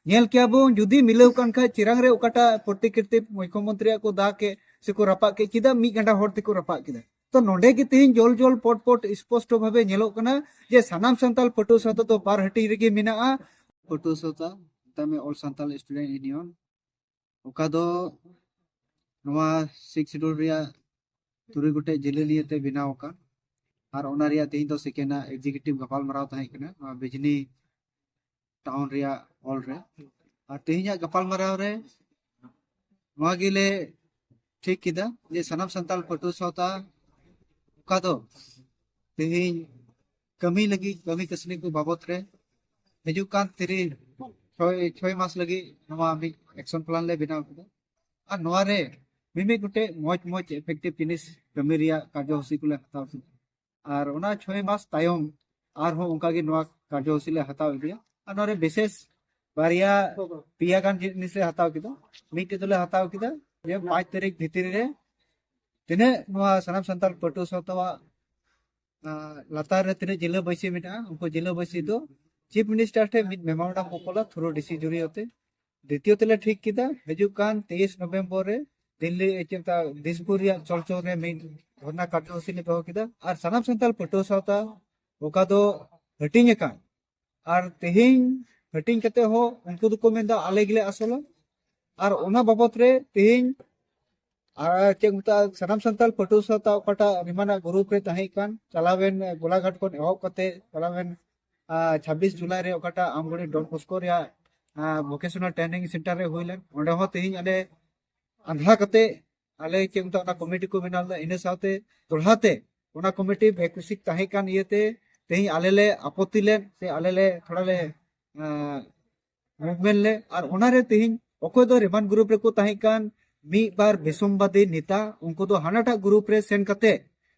ᱧᱮᱞ ᱠᱮᱭᱟ ᱵᱚᱱ ᱡᱩᱫᱤ ᱢᱤᱞᱟᱹᱣ ᱠᱟᱱ ᱠᱷᱟᱡ ᱪᱤᱨᱟᱝ ᱨᱮ ᱚᱠᱟᱴᱟᱜ ᱯᱨᱚᱛᱤᱠᱨᱤᱛᱤ ᱢᱩᱠᱷᱭᱚᱢᱚᱱᱛᱨᱤᱭᱟᱜ ᱠᱚ ᱫᱟ ᱠᱮᱫ ᱥᱮᱠᱚ ᱨᱟᱯᱟᱜ ᱠᱮᱫ ᱪᱮᱫᱟᱜ ᱢᱤᱫ ᱜᱟᱸᱰᱟ ᱦᱚᱲ ᱛᱮᱠᱚ ᱨᱟᱯᱟᱜ ᱠᱮᱫᱟ ᱛᱚ ᱱᱚᱰᱮ ᱜᱮ ᱛᱮᱦᱮᱧ ᱡᱚᱞ ᱡᱚᱞ ᱯᱚᱴ ᱯᱚᱴ ᱥᱯᱚᱥᱴᱚ ᱵᱷᱟᱵᱮ ᱧᱮᱞᱚᱜ ᱠᱟᱱᱟ ᱡᱮ ᱥᱟᱱᱟᱢ ᱥᱟᱱᱛᱟᱞ ᱯᱟᱹᱴᱷᱩᱣᱟᱹ ᱥᱟᱶᱛᱟ ᱫᱚ ᱵᱟᱨ ᱦᱟᱹᱴᱤᱧ ᱨᱮᱜᱮ ᱢᱮᱱᱟᱜᱼᱟ ᱯᱟᱹᱴᱷᱩᱣᱟᱹ ᱥᱟᱶᱛᱟ ᱛᱟᱢᱮ ᱚᱞ ᱥᱟᱱᱛᱟᱞ ᱥᱴᱩᱰᱮᱱᱴ ᱤᱭᱩᱱᱤᱭᱚᱱ ᱚᱠᱟ ᱫᱚ ᱱᱚᱣᱟ ᱥᱤᱠᱥ ᱥᱤᱰᱩᱞ ᱨᱮᱭᱟᱜ ᱛᱩᱨᱩᱭ ᱜᱚᱴᱮᱡ ᱡᱮᱞᱮ ᱱᱤᱭᱮ ᱛᱮ ᱵᱮᱱᱟᱣ ᱟᱠᱟᱱ ᱟᱨ ᱚᱱᱟ ᱨᱮᱭᱟᱜ ᱛᱮᱦᱮᱧ ᱫᱚ ᱥᱮᱠᱮᱱᱰ ᱟᱜ ᱮᱠᱡᱤᱠᱤᱭᱩᱴᱤᱵᱷ ᱜᱟᱯᱟᱞᱢᱟᱨᱟᱣ ᱛᱟᱦᱮᱸ ᱠᱟᱱᱟ ᱱᱚᱣᱟ ᱵᱤᱡᱽᱱᱤ ᱴᱟᱣᱩᱱ ᱨᱮᱭᱟᱜ ᱦᱚᱞ ᱨᱮ ᱟᱨ ᱛᱮᱦᱮᱧᱟᱜ ᱜᱟᱯᱟᱞᱢᱟᱨᱟᱣ ᱨᱮ ᱱᱚᱣᱟ ᱜᱮᱞᱮ ᱴᱷᱤᱠ ᱠᱮᱫᱟ ᱡᱮ ᱥᱟᱱᱟᱢ ᱥᱟᱱᱛᱟᱲ ᱯᱟᱹᱴᱷᱩᱣᱟᱹ ᱥᱟᱶᱛᱟ ᱚᱠᱟ ᱫᱚ ᱛᱮᱦᱮᱧ ᱠᱟᱹᱢᱤ ᱞᱟᱹᱜᱤᱫ ᱠᱟᱹᱢᱤ ᱠᱟᱹᱥᱱᱤ ᱠᱚ ᱵᱟᱵᱚᱛ ᱨᱮ ᱦᱤᱡᱩᱜ ᱠᱟᱱ ᱛᱤᱨᱤ ᱪᱷᱚᱭ ᱪᱷᱚᱭ ᱢᱟᱥ ᱞᱟᱹᱜᱤᱫ ᱱᱚᱣᱟ ᱢᱤᱫ ᱮᱠᱥᱚᱱ ᱯᱞᱟᱱ ᱞᱮ ᱵᱮᱱᱟᱣ ᱠᱮᱫᱟ ᱟᱨ ᱱᱚᱣᱟ ᱨᱮ ᱢᱤᱢᱤᱫ ᱜᱚᱴᱮᱡ ᱢᱚᱡᱽ ᱢᱚᱡᱽ ᱮᱯᱷᱮᱠᱴᱤᱵᱷ ᱡᱤᱱᱤᱥ ᱠᱟᱹᱢᱤ ᱨᱮᱭᱟᱜ ᱠᱟᱨᱡᱚᱥᱩᱪᱤ ᱠᱚᱞᱮ ᱦᱟᱛᱟᱣ ᱠᱮᱫᱟ ᱟᱨ ᱚᱱᱟ ᱪᱷᱚᱭ ᱢᱟᱥ ᱛᱟᱭᱚᱢ ᱟᱨᱦᱚᱸ ᱚᱱᱠᱟᱜᱮ ᱱᱚᱣᱟ ᱠᱟᱨᱡᱚᱥᱩᱪᱤ ᱞᱮ ᱦᱟᱛᱟᱣ ᱤᱫᱤᱭᱟ ᱟᱨ ᱱᱚᱣᱟ ᱨᱮ ᱵᱤᱥᱮᱥ ᱵᱟᱨᱭᱟ ᱯᱮᱭᱟ ᱜᱟᱱ ᱡᱤᱱᱤᱥ ᱞᱮ ᱦᱟᱛᱟᱣ ᱠᱮᱫᱟ ᱢᱤᱫᱴᱮᱡ ᱫᱚᱞᱮ ᱦᱟᱛᱟᱣ ᱠᱮᱫᱟ ᱡᱮ ᱯᱟᱸᱪ ᱛᱟᱹᱨᱤᱠᱷ ᱵᱷᱤᱛᱨᱤ ᱨᱮ ᱛᱤᱱᱟᱹᱜ ᱱᱚᱣᱟ ᱥᱟᱱᱟᱢ ᱥᱟᱱᱛᱟᱲ ᱯᱟᱹᱴᱷᱩᱣᱟᱹ ᱥᱟᱶᱛᱟᱣᱟᱜ ᱞᱟᱛᱟᱨ ᱨᱮ ᱛᱤᱱᱟᱹᱜ ᱡᱤᱞᱟᱹ ᱵᱟᱹᱭᱥᱤ ᱢᱮᱱᱟᱜᱼᱟ ᱩᱱᱠᱩ ᱡᱤᱞᱟᱹ ᱵᱟᱹᱭᱥᱤ ᱫᱚ ᱪᱤᱯ ᱢᱤᱱᱤᱥᱴᱟᱨ ᱴᱷᱮᱱ ᱢᱤᱫ ᱢᱮᱢᱳᱨᱟᱱᱰᱟᱢ ᱠᱚ ᱠᱚᱞᱟ ᱛᱷᱨᱩ ᱰᱤᱥᱤ ᱡᱩᱨᱤᱭᱟᱛᱮ ᱫᱤᱛᱤᱭᱚ ᱛᱮᱞᱮ ᱴᱷᱤᱠ ᱠᱮᱫᱟ ᱦᱤᱡᱩᱜ ᱠᱟᱱ ᱛᱮᱭᱤᱥ ᱱᱚᱵᱷᱮᱢᱵᱚᱨ ᱨᱮ ᱫᱤᱞᱞᱤ ᱪᱮᱫ ᱫᱤᱥᱯᱩᱨ ᱨᱮᱭᱟᱜ ᱪᱚᱞᱪᱚᱞ ᱨᱮ ᱢᱤᱫ ᱫᱷᱚᱨᱱᱟ ᱠᱟᱨᱡᱚᱥᱩᱪᱤ ᱞᱮ ᱫᱚᱦᱚ ᱠᱮᱫᱟ ᱟᱨ ᱥᱟᱱᱟᱢ ᱥᱟᱱᱛᱟᱲ ᱯᱟᱹᱴᱷᱩᱣᱟᱹ ᱥᱟᱶᱛᱟ ᱚᱠᱟ ᱫᱚ ᱦᱟᱹᱴᱤᱧ ᱟᱠᱟᱱ ᱟᱨ ᱛᱮᱦᱮᱧ ᱦᱟᱹᱴᱤᱧ ᱠᱟᱛᱮ ᱦᱚᱸ ᱩᱱᱠᱩ ᱫᱚᱠᱚ ᱢᱮᱱᱫᱟ ᱟᱞᱮ ᱜᱮᱞᱮ ᱟᱥᱚᱞᱟ ᱟᱨ ᱚᱱᱟ ᱵᱟᱵᱚᱛ ᱨᱮ ᱛᱮᱦᱮᱧ ᱟᱨ ᱪᱮᱫ ᱢᱮᱛᱟᱜᱼᱟ ᱥᱟᱱᱟᱢ ᱥᱟᱱᱛᱟᱲ ᱯᱟᱹᱴᱷᱩᱣᱟᱹ ᱥᱟᱶᱛᱟ ᱚᱠᱟᱴᱟᱜ ᱨᱤᱢᱟᱱᱟᱜ ᱜᱨᱩᱯ ᱨᱮ ᱛᱟᱦᱮᱸ ᱠᱟᱱ ᱪᱟᱞᱟᱣᱮᱱ ᱜᱚᱞᱟᱜᱷᱟᱴ ᱠᱷᱚᱱ ᱮᱦᱚᱵ ᱠᱟᱛᱮ ᱪᱟᱞᱟᱣᱮᱱ ᱪᱷᱟᱵᱵᱤᱥ ᱡᱩᱞᱟᱭ ᱨᱮ ᱚᱠᱟᱴᱟᱜ ᱟᱢᱜᱚᱲᱤ ᱰᱚᱱ ᱵᱚᱥᱠᱚ ᱨᱮᱭᱟᱜ ᱵᱷᱚᱠᱮᱥᱚᱱᱟᱞ ᱴᱨᱮᱱᱤᱝ ᱥᱮᱱᱴᱟᱨ ᱨᱮ ᱦᱩᱭ ᱞᱮᱱ ᱚᱸᱰᱮ ᱦᱚᱸ ᱛᱮᱦᱮᱧ ᱟᱞᱮ ᱟᱸᱫᱷᱟ ᱠᱟᱛᱮ ᱟᱞᱮ ᱪᱮᱫ ᱢᱮᱛᱟᱜ ᱚᱱᱟ ᱠᱚᱢᱤᱴᱤ ᱠᱚ ᱵᱮᱱᱟᱣ ᱞᱮᱫᱟ ᱤᱱᱟᱹ ᱥᱟᱶᱛᱮ ᱫᱚᱲᱦᱟ ᱛᱮ ᱚᱱᱟ ᱠᱚᱢᱤᱴᱤ ᱵᱷᱮᱠᱩᱥᱤᱠ ᱛᱟᱦᱮᱸ ᱠᱟᱱ ᱤᱭᱟᱹᱛᱮ ᱛᱮᱦᱮᱧ ᱟᱞᱮ ᱞᱮ ᱟᱯᱚᱛᱛᱤ ᱞᱮᱱ ᱥᱮ ᱟᱞᱮ ᱞᱮ ᱛᱷᱚᱲᱟ ᱞᱮ ᱢᱩᱵᱷᱢᱮᱱᱴ ᱞᱮ ᱟᱨ ᱚᱱᱟᱨᱮ ᱛᱮᱦᱮᱧ ᱚᱠᱚᱭ ᱫᱚ ᱨᱮᱢᱟᱱ ᱜᱨᱩᱯ ᱨᱮᱠᱚ ᱛᱟᱦᱮᱸ ᱠᱟᱱ ᱢᱤᱫ ᱵᱟᱨ ᱵᱮᱥᱚᱢᱵᱟᱫᱤ ᱱᱮᱛᱟ ᱩᱱᱠᱩ ᱫᱚ ᱦᱟᱱᱟᱴᱟᱜ ᱜᱨᱩᱯ ᱨᱮ ᱥᱮᱱ ᱠᱟᱛᱮ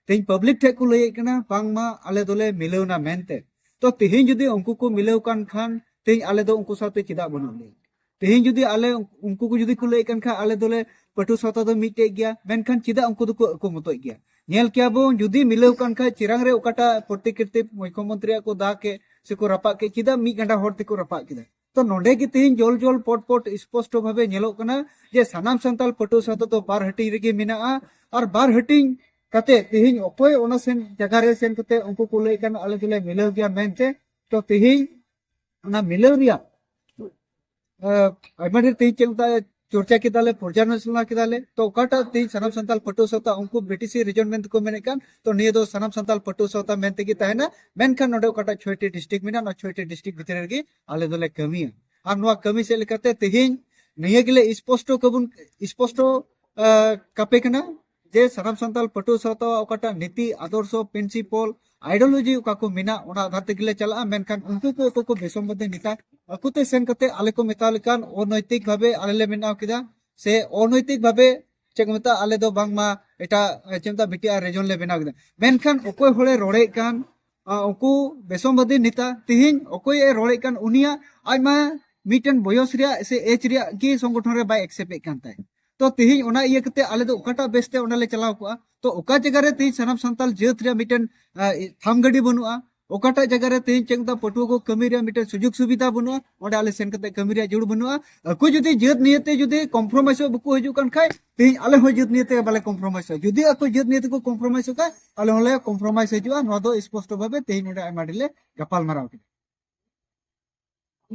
ᱛᱮᱦᱮᱧ ᱯᱟᱵᱽᱞᱤᱠ ᱴᱷᱮᱡ ᱠᱚ ᱞᱟᱹᱭᱮᱫ ᱠᱟᱱᱟ ᱵᱟᱝᱢᱟ ᱟᱞᱮ ᱫᱚᱞᱮ ᱢᱤᱞᱟᱹᱣᱱᱟ ᱢᱮᱱᱛᱮ ᱛᱚ ᱛᱮᱦᱮᱧ ᱡᱩᱫᱤ ᱩᱱᱠᱩ ᱠᱚ ᱢᱤᱞᱟᱹᱣ ᱠᱟᱱ ᱠᱷᱟᱱ ᱛᱮᱦᱮᱧ ᱟᱞᱮ ᱫᱚ ᱩᱱᱠᱩ ᱥᱟᱶᱛᱮ ᱪᱮᱫᱟᱜ ᱵᱟᱹᱱᱩᱜ ᱞᱮᱭᱟ ᱛᱮᱦᱮᱧ ᱡᱩᱫᱤ ᱟᱞᱮ ᱩᱱᱠᱩ ᱠᱚ ᱡᱩᱫᱤ ᱠᱚ ᱞᱟᱹᱭᱮᱫ ᱠᱟᱱ ᱠᱷᱟᱱ ᱟᱞᱮ ᱫᱚᱞᱮ ᱯᱟᱹᱴᱷᱩᱣᱟᱹ ᱥᱟᱶᱛᱟ ᱫᱚ ᱢᱤᱫᱴᱮᱡ ᱜᱮᱭᱟ ᱢᱮᱱᱠᱷᱟᱱ ᱪᱮᱫᱟᱜ ᱩᱱᱠᱩ ᱫᱚᱠᱚ ᱟᱹᱠᱚ ᱢᱚᱛᱚᱡ ᱜᱮᱭᱟ ᱧᱮᱞ ᱠᱮᱭᱟ ᱵᱚᱱ ᱡᱩᱫᱤ ᱢᱤᱞᱟᱹᱣ ᱠᱟᱱ ᱠᱷᱟᱱ ᱪᱮᱨᱟᱝ ᱨᱮ ᱚᱠᱟᱴᱟᱜ ᱯᱨᱚᱛᱤᱠᱨᱤᱛᱤ ᱢᱩᱠᱷᱭᱚᱢᱚᱱᱛᱨᱤᱭᱟᱜ ᱠᱚ ᱫᱟᱜ ᱠᱮᱫ ᱥᱮ ᱠᱚ ᱨᱟᱯᱟᱜ ᱠᱮᱫ ᱪᱮᱫᱟᱜ ᱢᱤᱫ ᱜᱟᱸᱰᱟ ᱦᱚᱲ ᱛᱮᱠᱚ ᱨᱟᱯᱟᱜ ᱠᱮᱫᱟ ᱛᱚ ᱱᱚᱰᱮ ᱜᱮ ᱛᱮᱦᱮᱧ ᱡᱚᱞ ᱡᱚᱞ ᱯᱚᱴ ᱯᱚᱴ ᱥᱯᱚᱥᱴᱚ ᱵᱷᱟᱵᱮ ᱧᱮᱞᱚᱜ ᱠᱟᱱᱟ ᱡᱮ ᱥᱟᱱᱟᱢ ᱥᱟᱱᱛᱟᱞ ᱯᱟᱹᱴᱷᱩᱣᱟᱹ ᱥᱟᱶᱛᱟ ᱫᱚ ᱵᱟᱨ ᱦᱟᱹᱴᱤᱧ ᱨᱮᱜᱮ ᱢᱮᱱᱟᱜᱼᱟ ᱟᱨ ᱵᱟᱨ ᱦᱟᱹᱴᱤᱧ ᱠᱟᱛᱮ ᱛᱮᱦᱮᱧ ᱚᱠᱚᱭ ᱚᱱᱟ ᱥᱮᱱ ᱡᱟᱭᱜᱟ ᱨᱮ ᱥᱮᱱ ᱠᱟᱛᱮ ᱩᱱᱠᱩ ᱠᱚ ᱞᱟᱹᱭ ᱠᱟᱱ ᱟᱞᱮ ᱫᱚᱞᱮ ᱢᱤᱞᱟᱹᱣ ᱜᱮᱭᱟ ᱢᱮᱱᱛᱮ ᱛᱚ ᱛᱮᱦᱮᱧ ᱚᱱᱟ ᱢᱤᱞᱟᱹᱣ ᱨᱮᱭᱟᱜ ᱟᱭᱢᱟ ᱰᱷᱮᱨ ᱛᱮᱦᱮᱧ ᱪᱮᱫ ᱢᱮᱛᱟᱜᱼᱟ ᱪᱚᱨᱪᱟ ᱠᱮᱫᱟᱞᱮ ᱯᱚᱨᱡᱟᱞᱳᱪᱚᱱᱟ ᱠᱮᱫᱟᱞᱮ ᱛᱚ ᱚᱠᱟᱴᱟᱜ ᱛᱮᱦᱮᱧ ᱥᱟᱱᱟᱢ ᱥᱟᱱᱛᱟᱞ ᱯᱟᱹᱴᱷᱩᱣᱟᱹ ᱥᱟᱶᱛᱟ ᱩᱱᱠᱩ ᱵᱤᱴᱤᱥᱤ ᱨᱤᱡᱚᱱ ᱢᱮᱱᱛᱮ ᱠᱚ ᱢᱮᱱᱮᱫ ᱠᱟᱱ ᱛᱚ ᱱᱤᱭᱟᱹ ᱫᱚ ᱥᱟᱱᱟᱢ ᱥᱟᱱᱛᱟᱞ ᱯᱟᱹᱴᱷᱩᱣᱟᱹ ᱥᱟᱶᱛᱟ ᱢᱮᱱ ᱛᱮᱜᱮ ᱛᱟᱦᱮᱱᱟ ᱢᱮᱱᱠᱷᱟᱱ ᱱᱚᱰᱮ ᱚᱠᱟᱴᱟᱜ ᱪᱷᱚᱭᱴᱤ ᱰᱤᱥᱴᱨᱤᱠᱴ ᱢᱮᱱᱟᱜᱼᱟ ᱱᱚᱣᱟ ᱪᱷᱚᱭᱴᱤ ᱰᱤᱥᱴᱨᱤᱠᱴ ᱵᱷᱤᱛᱨᱤ ᱨᱮᱜᱮ ᱟᱞᱮ ᱫᱚᱞᱮ ᱠᱟᱹᱢᱤᱭᱟ ᱟᱨ ᱱᱚᱣᱟ ᱠᱟᱹᱢᱤ ᱥᱮᱫ ᱞᱮᱠᱟᱛᱮ ᱛᱮᱦᱮᱧ ᱱᱤᱭᱟᱹ ᱜᱮᱞᱮ ᱥᱯᱚᱥᱴᱚ ᱠᱟᱵᱚᱱ ᱥᱯᱚᱥᱴᱚ ᱠᱟᱯᱮ ᱠᱟᱱᱟ ᱡᱮ ᱥᱟᱱᱟᱢ ᱥᱟᱱᱛᱟᱞ ᱯᱟᱹᱴᱷᱩᱣᱟᱹ ᱥᱟᱶᱛᱟ ᱚᱠᱟᱴᱟᱜ ᱱᱤᱛᱤ ᱟᱫᱚᱨᱥᱚ ᱯᱨᱤᱱᱥᱤᱯᱚᱞ ᱟᱭᱰᱤᱭᱳᱞᱚᱡᱤ ᱚᱠᱟ ᱠᱚ ᱢᱮᱱᱟᱜ ᱚᱱᱟ ᱟᱫᱷᱟᱨ ᱛᱮᱜᱮ ᱞᱮ ᱪᱟᱞᱟᱜᱼᱟ ᱢᱮᱱᱠᱷᱟᱱ ᱩᱱᱠᱩ ᱠᱚ ᱚᱠᱚᱭ ᱠᱚ ᱵᱮᱥᱚᱢᱵᱟᱫᱤ ᱱᱮᱛᱟ ᱟᱠᱚ ᱛᱮ ᱥᱮᱱ ᱠᱟᱛᱮ ᱟᱞᱮ ᱠᱚ ᱢᱮᱛᱟᱣ ᱞᱮᱠᱟᱱ ᱚᱱᱚᱭᱛᱤᱠ ᱵᱷᱟᱵᱮ ᱟᱞᱮ ᱞᱮ ᱵᱮᱱᱟᱣ ᱠᱮᱫᱟ ᱥᱮ ᱚᱱᱚᱭᱛᱤᱠ ᱵᱷᱟᱵᱮ ᱪᱮᱫ ᱠᱚ ᱢᱮᱛᱟᱜᱼᱟ ᱟᱞᱮ ᱫᱚ ᱵᱟᱝᱢᱟ ᱮᱴᱟᱜ ᱪᱮᱫ ᱢᱮᱛᱟᱜᱼᱟ ᱵᱤᱴᱤ ᱟᱨ ᱨᱮᱡᱚᱱ ᱞᱮ ᱵᱮᱱᱟᱣ ᱠᱮᱫᱟ ᱢᱮᱱᱠᱷᱟᱱ ᱚᱠᱚᱭ ᱦᱚᱲᱮ ᱨᱚᱲᱮᱫ ᱠᱟᱱ ᱩᱱᱠᱩ ᱵᱮᱥᱚᱢᱵᱟᱫᱤ ᱱᱮᱛᱟ ᱛᱮᱦᱮᱧ ᱚᱠᱚᱭ ᱮ ᱨᱚᱲᱮᱫ ᱠᱟᱱ ᱩᱱᱤᱭᱟᱜ ᱟᱡ ᱢᱟ ᱢᱤᱫᱴᱮᱱ ᱵᱚᱭᱚᱥ ᱨᱮᱭᱟᱜ ᱥᱮ ᱮᱡᱽ ᱨᱮᱭᱟᱜ ᱜᱮ ᱥᱚᱝᱜᱚᱴᱷᱚᱱ ᱨᱮ ᱵᱟᱭ ᱮᱠᱥᱮᱯᱴᱮᱫ ᱠᱟᱱ ᱛᱟᱦᱮᱸᱫ ᱛᱚ ᱛᱮᱦᱮᱧ ᱚᱱᱟ ᱤᱭᱟᱹ ᱠᱟᱛᱮ ᱟᱞᱮ ᱫᱚ ᱚᱠᱟᱴᱟᱜ ᱵᱮᱥᱛᱮ ᱚᱸᱰᱮ ᱞᱮ ᱪᱟᱞᱟᱣ ᱠᱚᱜᱼᱟ ᱛᱚ ᱚᱠᱟ ᱡᱟᱭᱜᱟ ᱨᱮ ᱛᱮᱦᱮᱧ ᱥᱟᱱᱟᱢ ᱥᱟᱱᱛᱟᱞ ᱡᱟᱹᱛ ᱨᱮᱭᱟᱜ ᱢᱤᱫᱴᱮᱱ ᱛᱷᱟᱢ ᱜᱟᱹᱰᱤ ᱵᱟᱹᱱᱩᱜᱼᱟ ᱚᱠᱟᱴᱟᱜ ᱡᱟᱭᱜᱟ ᱨᱮ ᱛᱮᱦᱮᱧ ᱪᱮᱫ ᱫᱟ ᱯᱟᱹᱴᱷᱩᱣᱟᱹ ᱠᱚ ᱠᱟᱹᱢᱤ ᱨᱮᱭᱟᱜ ᱢᱤᱫᱴᱮᱱ ᱥᱩᱡᱳᱜᱽ ᱥᱩᱵᱤᱫᱷᱟ ᱵᱟᱹᱱᱩᱜᱼᱟ ᱚᱸᱰᱮ ᱟᱞᱮ ᱥᱮᱱ ᱠᱟᱛᱮ ᱠᱟᱹᱢᱤ ᱨᱮᱭᱟᱜ ᱡᱩᱲ ᱵᱟᱹᱱᱩᱜᱼᱟ ᱟᱠᱚ ᱡᱩᱫᱤ ᱡᱟᱹᱛ ᱱᱤᱭᱮᱛᱮ ᱡᱩᱫᱤ ᱠᱚᱢᱯᱨᱚᱢᱟᱭᱤᱥᱚᱜ ᱵᱟᱠᱚ ᱦᱤᱡᱩᱜ ᱠᱟᱱ ᱠᱷᱟᱡ ᱛᱮᱦᱮᱧ ᱟᱞᱮ ᱦᱚᱸ ᱡᱟᱹᱛ ᱱᱤᱭᱮ ᱛᱮ ᱵᱟᱞᱮ ᱠᱚᱢᱯᱨᱳᱢᱟᱭᱤᱥᱚᱜᱼᱟ ᱡᱩᱫᱤ ᱟᱠᱚ ᱡᱟᱹᱛ ᱱᱤᱭᱮ ᱛᱮᱠᱚ ᱠᱚᱢᱯᱨᱳᱢᱟᱭᱤᱥᱚᱜ ᱠᱷᱟᱱ ᱟᱞᱮ ᱦᱚᱸᱞᱮ ᱠᱚᱢᱯᱨᱳᱢᱟᱭᱤᱥ ᱦᱤᱡᱩᱜᱼᱟ ᱱᱚᱣᱟ ᱫᱚ ᱥᱯᱚᱥᱴᱚ ᱵᱷᱟᱵᱮ ᱛᱮᱦᱮᱧ ᱱᱚᱰᱮ ᱟᱭᱢᱟ ᱰᱷᱮᱨ ᱞᱮ ᱜᱟᱯᱟᱞ ᱢᱟᱨᱟᱣ ᱠᱮᱫᱟ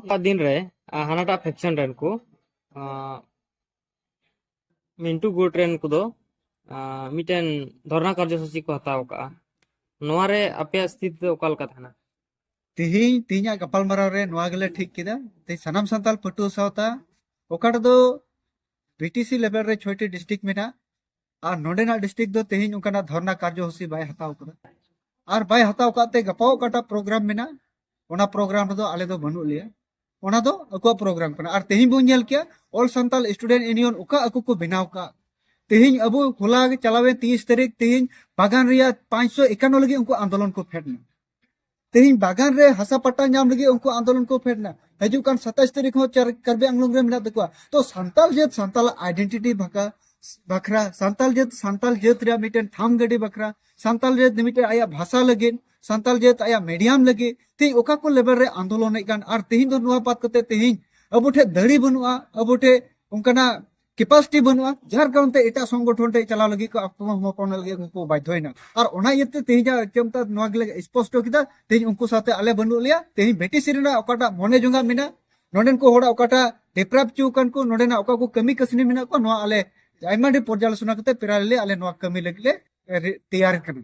ᱚᱱᱟ ᱫᱤᱱ ᱨᱮ ᱦᱟᱱᱟᱴᱟᱜ ᱯᱷᱮᱠᱥᱚᱱ ᱨᱮᱱ ᱠᱚ ᱢᱤᱱᱴᱩ ᱜᱩᱴ ᱨᱮᱱ ᱠᱚᱫᱚ ᱢᱤᱫᱴᱮᱱ ᱫᱷᱚᱨᱱᱟ ᱠᱟᱨᱡᱚᱥᱩᱪᱤ ᱠᱚ ᱦᱟᱛᱟᱣ ᱠᱟᱜᱼᱟ ᱱᱚᱣᱟ ᱨᱮ ᱟᱯᱮᱭᱟᱜ ᱥᱛᱷᱤᱛᱤ ᱫᱚ ᱚᱠᱟ ᱞᱮᱠᱟ ᱛᱟᱦᱮᱱᱟ ᱛᱮᱦᱮᱧ ᱛᱮᱦᱮᱧᱟᱜ ᱜᱟᱯᱟᱞᱢᱟᱨᱟᱣ ᱨᱮ ᱱᱚᱣᱟ ᱜᱮᱞᱮ ᱴᱷᱤᱠ ᱠᱮᱫᱟ ᱛᱮᱦᱮᱧ ᱥᱟᱱᱟᱢ ᱥᱟᱱᱛᱟᱲ ᱯᱟᱹᱴᱷᱩᱣᱟᱹ ᱥᱟᱶᱛᱟ ᱚᱠᱟᱴᱟᱜ ᱫᱚ ᱯᱤᱴᱤᱥᱤ ᱞᱮᱵᱮᱞ ᱨᱮ ᱪᱷᱚᱭᱴᱤ ᱰᱤᱥᱴᱨᱤᱠᱴ ᱢᱮᱱᱟᱜᱼᱟ ᱟᱨ ᱱᱚᱰᱮᱱᱟᱜ ᱰᱤᱥᱴᱨᱤᱠᱴ ᱫᱚ ᱛᱮᱦᱮᱧ ᱚᱱᱠᱟᱱᱟᱜ ᱫᱷᱚᱨᱱᱟ ᱠᱟᱨᱡᱚᱥᱩᱪᱤ ᱵᱟᱭ ᱦᱟᱛᱟᱣ ᱠᱟᱫᱟ ᱟᱨ ᱵᱟᱭ ᱦᱟᱛᱟᱣ ᱠᱟᱜ ᱛᱮ ᱜᱟᱯᱟ ᱚᱠᱟᱴᱟᱜ ᱯᱨᱳᱜᱨᱟᱢ ᱢᱮᱱᱟᱜᱼᱟ ᱚᱱᱟ ᱯᱨᱳᱜᱨᱟᱢ ᱨᱮᱫᱚ ᱟᱞᱮ ᱫᱚ ᱵᱟᱹᱱᱩᱜ ᱞᱮᱭᱟ ᱚᱱᱟ ᱫᱚ ᱟᱠᱚᱣᱟᱜ ᱯᱨᱳᱜᱨᱟᱢ ᱠᱟᱱᱟ ᱟᱨ ᱛᱮᱦᱮᱧ ᱵᱚᱱ ᱧᱮᱞ ᱠᱮᱭᱟ ᱚᱞ ᱥᱟᱱᱛᱟᱞ ᱥᱴᱩᱰᱮᱱᱴ ᱤᱭᱩᱱᱤᱭᱚᱱ ᱚᱠᱟ ᱟᱠᱚ ᱠᱚ ᱵᱮᱱᱟᱣ ᱠᱟᱜ ᱛᱮᱦᱮᱧ ᱟᱵᱚ ᱦᱚᱞᱟ ᱪᱟᱞᱟᱣᱮᱱ ᱛᱤᱨᱤᱥ ᱛᱟᱹᱨᱤᱠᱷ ᱛᱮᱦᱮᱧ ᱵᱟᱜᱟᱱ ᱨᱮᱭᱟᱜ ᱯᱟᱸᱪᱥᱚ ᱮᱠᱟᱱᱱᱚ ᱞᱟᱹᱜᱤᱫ ᱩᱱᱠᱩ ᱟᱱᱫᱳᱞᱚᱱ ᱠᱚ ᱯᱷᱮᱰ ᱮᱱᱟ ᱛᱮᱦᱮᱧ ᱵᱟᱜᱟᱱ ᱨᱮ ᱦᱟᱥᱟ ᱯᱟᱴᱟ ᱧᱟᱢ ᱞᱟᱹᱜᱤᱫ ᱩᱱᱠᱩ ᱟᱱᱫᱳᱞᱚᱱ ᱠᱚ ᱯᱷᱮᱰ ᱮᱱᱟ ᱦᱤᱡᱩᱜ ᱠᱟᱱ ᱥᱟᱛᱟᱥ ᱛᱟᱹᱨᱤᱠᱷ ᱦᱚᱸ ᱠᱟᱨᱵᱤ ᱟᱝᱞᱚᱝ ᱨᱮ ᱢᱮᱱᱟᱜ ᱛᱟᱠᱚᱣᱟ ᱛᱚ ᱥᱟᱱᱛᱟᱞ ᱡᱟᱹᱛ ᱥᱟᱱᱛᱟᱞᱟᱜ ᱟᱭᱰᱮᱱᱴᱤᱴᱤ ᱵᱷᱟᱠᱟ ᱵᱟᱠᱷᱨᱟ ᱥᱟᱱᱛᱟᱞ ᱡᱟᱹᱛ ᱥᱟᱱᱛᱟᱞ ᱡᱟᱹᱛ ᱨᱮᱭᱟᱜ ᱢᱤᱫᱴᱮᱱ ᱴᱷᱟᱢ ᱜᱟᱹᱰᱤ ᱵᱟᱠᱷᱨᱟ ᱥᱟᱱᱛᱟᱞ ᱡᱟᱹᱛ ᱢᱤᱫᱴᱮᱱ ᱟᱭᱟᱜ ᱵᱷᱟᱥᱟ ᱞᱟᱹᱜᱤᱫ ᱥᱟᱱᱛᱟᱞ ᱡᱟᱹᱛ ᱟᱭᱟᱜ ᱢᱤᱰᱤᱭᱟᱢ ᱞᱟᱹᱜᱤᱫ ᱛᱮᱦᱮᱧ ᱚᱠᱟ ᱠᱚ ᱞᱮᱵᱮᱞ ᱨᱮ ᱟᱱᱫᱳᱞᱚᱱᱮᱫ ᱠᱟᱱ ᱟᱨ ᱛᱮᱦᱮᱧ ᱫᱚ ᱱᱚᱣᱟ ᱵᱟᱫ ᱠᱟᱛᱮ ᱛᱮᱦᱮᱧ ᱟᱵᱚ ᱴᱷᱮᱱ ᱫᱟᱲᱮ ᱵᱟᱹᱱᱩᱜᱼᱟ ᱟᱵᱚ ᱴᱷᱮᱱ ᱚᱱᱠᱟᱱᱟᱜ ᱠᱮᱯᱟᱥᱤᱴᱤ ᱵᱟᱹᱱᱩᱜᱼᱟ ᱡᱟᱨ ᱠᱟᱨᱚᱱ ᱛᱮ ᱮᱴᱟᱜ ᱥᱚᱝᱜᱚᱴᱷᱚᱱ ᱴᱷᱮᱱ ᱪᱟᱞᱟᱣ ᱞᱟᱹᱜᱤᱫ ᱠᱚ ᱟᱛᱢᱚᱥᱚᱢᱚᱨᱯᱚᱱ ᱞᱟᱹᱜᱤᱫ ᱩᱱᱠᱩ ᱵᱟᱫᱽᱫᱷᱚᱭᱮᱱᱟ ᱟᱨ ᱚᱱᱟ ᱤᱭᱟᱹᱛᱮ ᱛᱮᱦᱮᱧ ᱪᱮᱢᱛᱟ ᱱᱚᱣᱟ ᱜᱮᱞᱮ ᱥᱯᱚᱥᱴᱚ ᱠᱮᱫᱟ ᱛᱮᱦᱮᱧ ᱩᱱᱠᱩ ᱥᱟᱶᱛᱮ ᱟᱞᱮ ᱵᱟᱹᱱᱩᱜ ᱞᱮᱭᱟ ᱛᱮᱦᱮᱧ ᱵᱷᱮᱴᱤᱥᱤ ᱨᱮᱱᱟᱜ ᱚᱠᱟᱴᱟᱜ ᱢᱚᱱᱮ ᱡᱚᱝᱟ ᱢᱮᱱᱟᱜ ᱱᱚᱰᱮᱱ ᱠᱚ ᱦᱚᱲᱟᱜ ᱚᱠᱟᱴᱟᱜ ᱰᱮᱯᱨᱟᱯ ᱪᱩ ᱠᱟᱱ ᱠᱚ ᱱᱚᱰᱮᱱᱟᱜ ᱚᱠᱟ ᱠᱚ ᱠᱟᱹᱢᱤ ᱠᱟᱹᱥᱱᱤ ᱢᱮᱱᱟᱜ ᱠᱚ ᱱᱚᱣᱟ ᱟᱞᱮ ᱟᱭᱢᱟ ᱰᱷᱮᱨ ᱯᱚᱨᱡᱟᱞᱳᱪᱚᱱᱟ ᱠᱟᱛᱮ ᱯᱮᱨᱟᱞᱮᱞᱤ ᱟᱞᱮ ᱱᱚᱣᱟ ᱠᱟᱹᱢᱤ ᱞᱟᱹᱜᱤᱫ ᱞᱮ ᱛᱮᱭᱟᱨ ᱠᱟᱱᱟ